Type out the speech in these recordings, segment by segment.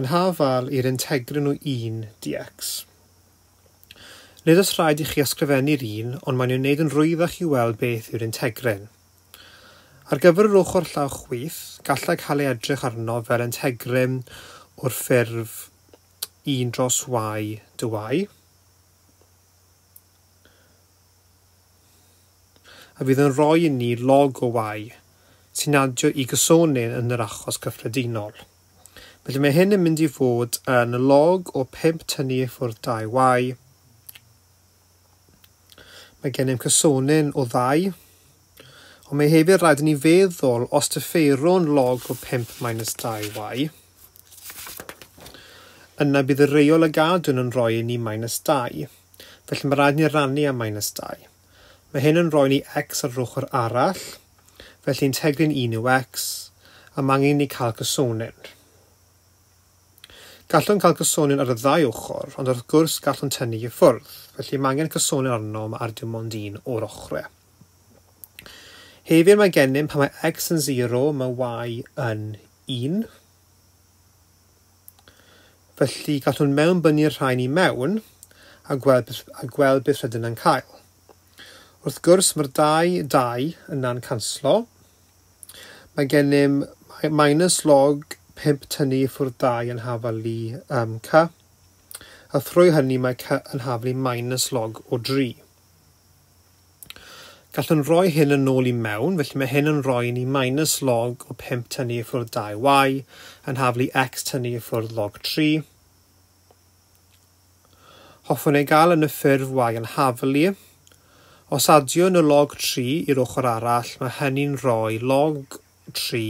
Yn haf al i'r integrin o 1 dx. Nid oes rhaid i chi ysgrifennu'r un, ond mae'n ei wneud yn rwyddach i weld beth yw'r integrin. Ar gyfer yr ochr llaw chwith, gallai cael ei edrych arno fel integrin o'r ffurf 1 dros y dy y. a fydd yn rhoi i ni log o Y sy'n adio i Gysonyn yn yr achos cyffredinol. Felly mae hyn yn mynd i fod yn log o 5 tynnu i ffwrdd 2 Y. Mae gennym Cysonyn o ddau, ond mae hefyd rhaid i ni feddwl os dyfeirwn log o 5 minus 2 Y, yna bydd y reol y gadwn yn rhoi i ni minus 2. felly mae rhaid ni rannu â minus 2. Mae hyn yn rhoi ni x ar yr ochr arall, felly integrin 1 yw x, a mae angen i ni cael cysonyn. Gallwn cael cysonyn ar y ddau ochr, ond wrth gwrs gallwn tynnu i ffwrdd, felly mae angen cysonyn arnom ar dim ond un o'r ochrau. Hefyd mae gennym pan mae x yn 0, mae y yn 1. Felly, gallwn mewnbynnu'r rhain i mewn a gweld, a gweld beth rydyn yn cael. Wrth gwrs, mae'r dau, dau yna'n canslo. Mae gennym minus log 5 tynnu ffwrdd 2 yn hafal i um, ca, a thrwy hynny mae ca yn hafal i minus log o 3. Gallwn roi hyn yn ôl i mewn, felly mae hyn yn rhoi i ni minus log o 5 tynnu i ffwrdd 2y yn haflu x tynnu i ffwrdd log 3. Hoffwn ei gael yn y ffurf y yn haflu. Os adiwn y log 3 i'r ochr arall, mae hynny'n rhoi log 3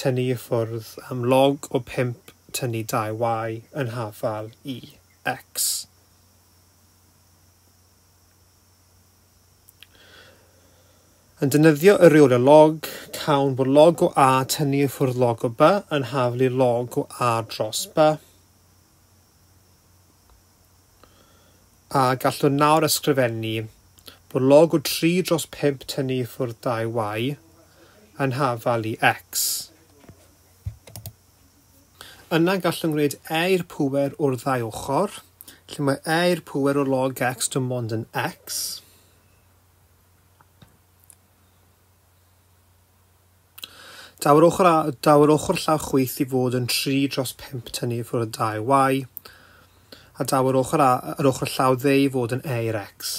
tynnu i ffwrdd am log o 5 tynnu 2y yn hafal i x. Yn defnyddio y rheolau log, cawn bod log o A tynnu i ffwrdd log o B yn haflu log o A dros B. A gallwn nawr ysgrifennu bod log o 3 dros 5 tynnu i ffwrdd 2y yn hafal i x. Yna gallwn gwneud e i'r pŵer o'r ddau ochr, Lle mae A i'r pŵer o log x dim ond yn x. Daw'r ochr, a, daw'r ochr llawr chwyth i fod yn 3 dros 5 tynnu ffwrdd y 2y, a daw'r ochr, a, yr ochr llaw dde i fod yn e i'r x.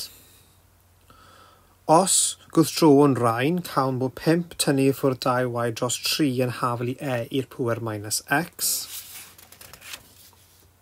Os gwrthdrowwn rhain, cawn bod 5 tynnu ffwrdd 2y dros 3 yn hafel i e i'r pŵer minus x.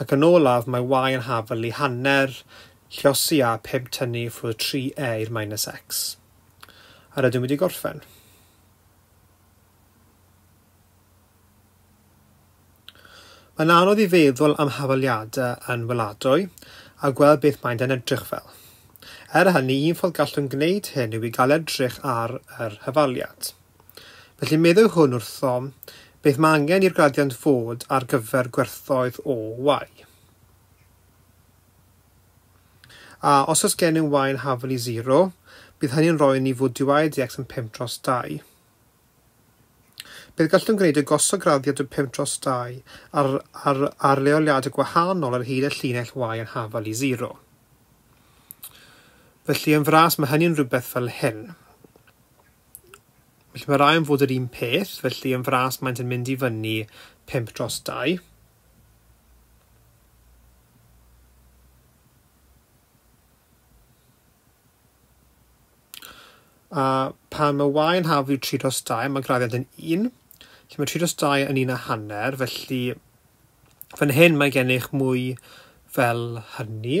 Ac yn olaf mae Y yn hafl i hanner llosi a phump tynnu i ffwrdd 3E i'r minus X. Yr ydym wedi gorffen. Mae'n anodd i feddwl am hafaliadau yn weladwy a gweld beth maent yn edrych fel. Er hynny, un ffordd gallwn gwneud hyn yw i gael edrych ar yr hafaliad. Felly meddai hwn wrthom, Beth mae angen i'r gradiant fod ar gyfer gwerthoedd o Y? A os oes gennym Y yn hafel i 0, bydd hynny'n rhoi ni fod dy Y dx yn 5 dros 2. Beth gallwn gwneud y gosod graddiant o 5 dros 2 ar, ar, ar leoliadau gwahanol ar hyd y llinell Y yn hafel i 0? Felly yn fras mae hynny'n rhywbeth fel hyn. Felly mae rai yn fod yr un peth, felly yn fras maent yn mynd i fyny 5 dros 2. A pan mae y yn haflu 3 dros 2, mae graddiant yn 1. Felly mae 3 dros 2 yn un a hanner, felly fan hyn mae gennych mwy fel hynny.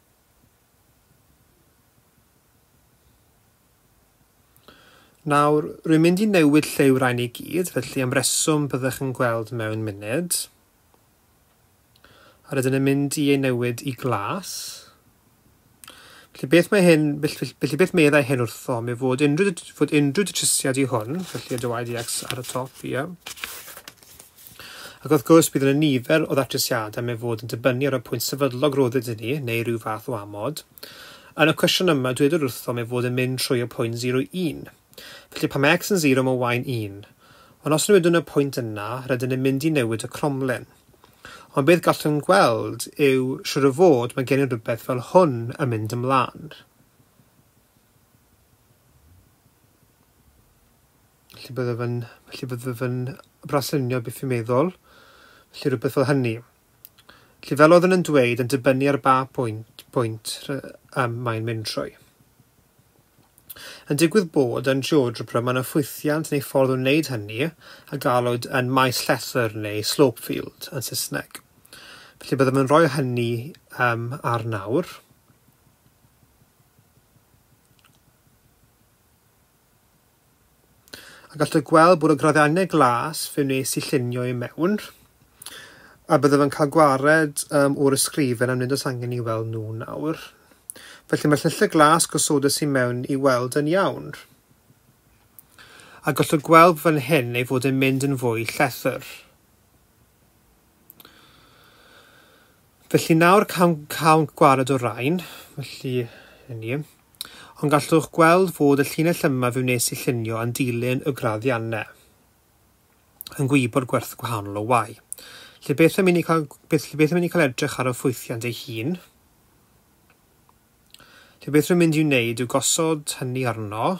Nawr, rwy'n mynd i newid lle yw'r rhain i gyd, felly am reswm byddech yn gweld mewn munud. A rydyn yn mynd i ei newid i glas. Felly beth mae hyn, felly, felly beth meddai hyn wrtho, mi fod unrhyw, fod unrhyw datrysiad i hwn, felly y dywaid i X ar y top, ie. Yeah. Ac wrth gwrs, bydd yna nifer o ddatrysiadau am ei fod yn dibynnu ar y pwynt sefydlog roedd ydyn ni, neu rhyw fath o amod. Yn y cwestiwn yma, dwedwyd wrthom ei fod yn mynd trwy y pwynt 0 i 1. Felly, pan mae x yn 0, mae y yn 1. Ond os newidwn y pwynt yna, rydyn ni'n mynd i newid y cromlin. Ond beth gallwn gweld yw, siŵr o fod, mae gen i rywbeth fel hwn yn mynd ymlaen. Felly bydde fe'n, felly bydde fe'n braslunio beth fi'n meddwl. Felly rhywbeth fel hynny. Felly fel oedd yn dweud, yn dibynnu ar ba pwynt, pwynt um, mae'n mynd trwy. Yn digwydd bod yn geogebra mae yna ffwythiant neu ffordd o wneud hynny a galwyd yn maes llethr neu slope field yn Saesneg. Felly byddem yn rhoi hynny um, ar nawr. A gallwch gweld bod y graddengau glas fe wnes i llunio i mewn, a byddaf yn cael gwared um, o'r ysgrifen am nid oes angen i weld nhw nawr. Felly mae llylledd glas gosodus i mewn i weld yn iawn. A gallwch gweld fan hyn ei fod yn mynd yn fwy llethr. Felly nawr cawn, cawn gwared o rain, felly hyn i. Ond gallwch gweld fod y llinell yma fe wnes i llunio yn dilyn y graddiannau yn gwybod gwerth gwahanol o Y. Lle beth yn mynd i cael, beth, lle beth yn mynd i cael edrych ar y ffwythiant ei hun, lle beth rwy'n mynd i'w wneud yw gosod hynny arno,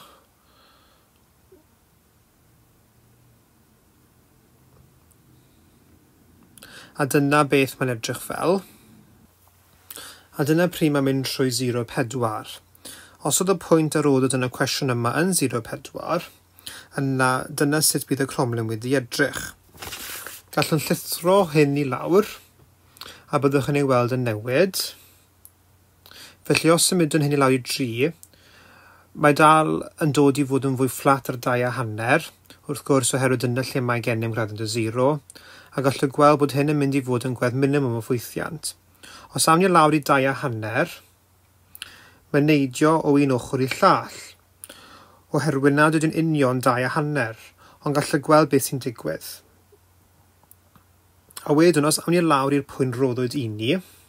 A dyna beth mae'n edrych fel. A dyna pryd mae'n mynd trwy sero pedwar. Os oedd y pwynt a rodwyd yn y cwestiwn yma yn sero pedwar, yna dyna sut bydd y cromlin wedi edrych. Gallwn llithro hyn i lawr, a byddwch yn ei weld yn newid. Felly os symudwn hyn i lawr i dri, mae dal yn dod i fod yn fwy fflat ar dau a hanner, wrth gwrs, oherwydd dyna lle mae gennym gradient o zero, a gallu gweld bod hyn yn mynd i fod yn gwedd minimwm o ffwythiant. Os awn ni lawr i dau a hanner, mae neidio o un ochr i'r llall, oherwydd nad ydyn union dau a hanner, ond gallu gweld beth sy'n digwydd. A wedyn, os awn ni lawr i'r pwynt roddwyd i ni,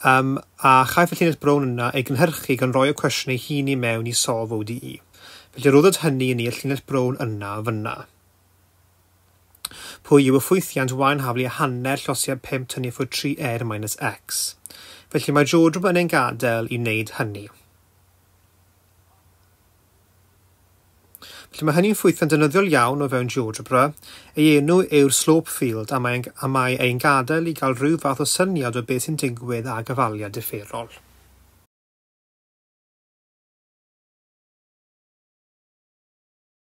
Yym, a chaiff y llinell brown yna ei gynhyrchu gan roi y cwestiwn ei hun i mewn i Solve ODE. Felly rhoddwyd hynny i ni y llinell brown yna, fyna. Pwy yw y ffwythiant y yn haflu a hanner llosiad 5 tynnu ffwrdd 3 er minus x. Felly mae George yn ein gadael i wneud hynny. Felly mae hynny'n ffwythiant ddefnyddiol iawn o fewn GeoGebra. Ei enw yw'r slope field a mae'n a mae ein gadael i gael rhyw fath o syniad o beth sy'n digwydd â gyfaliad differol.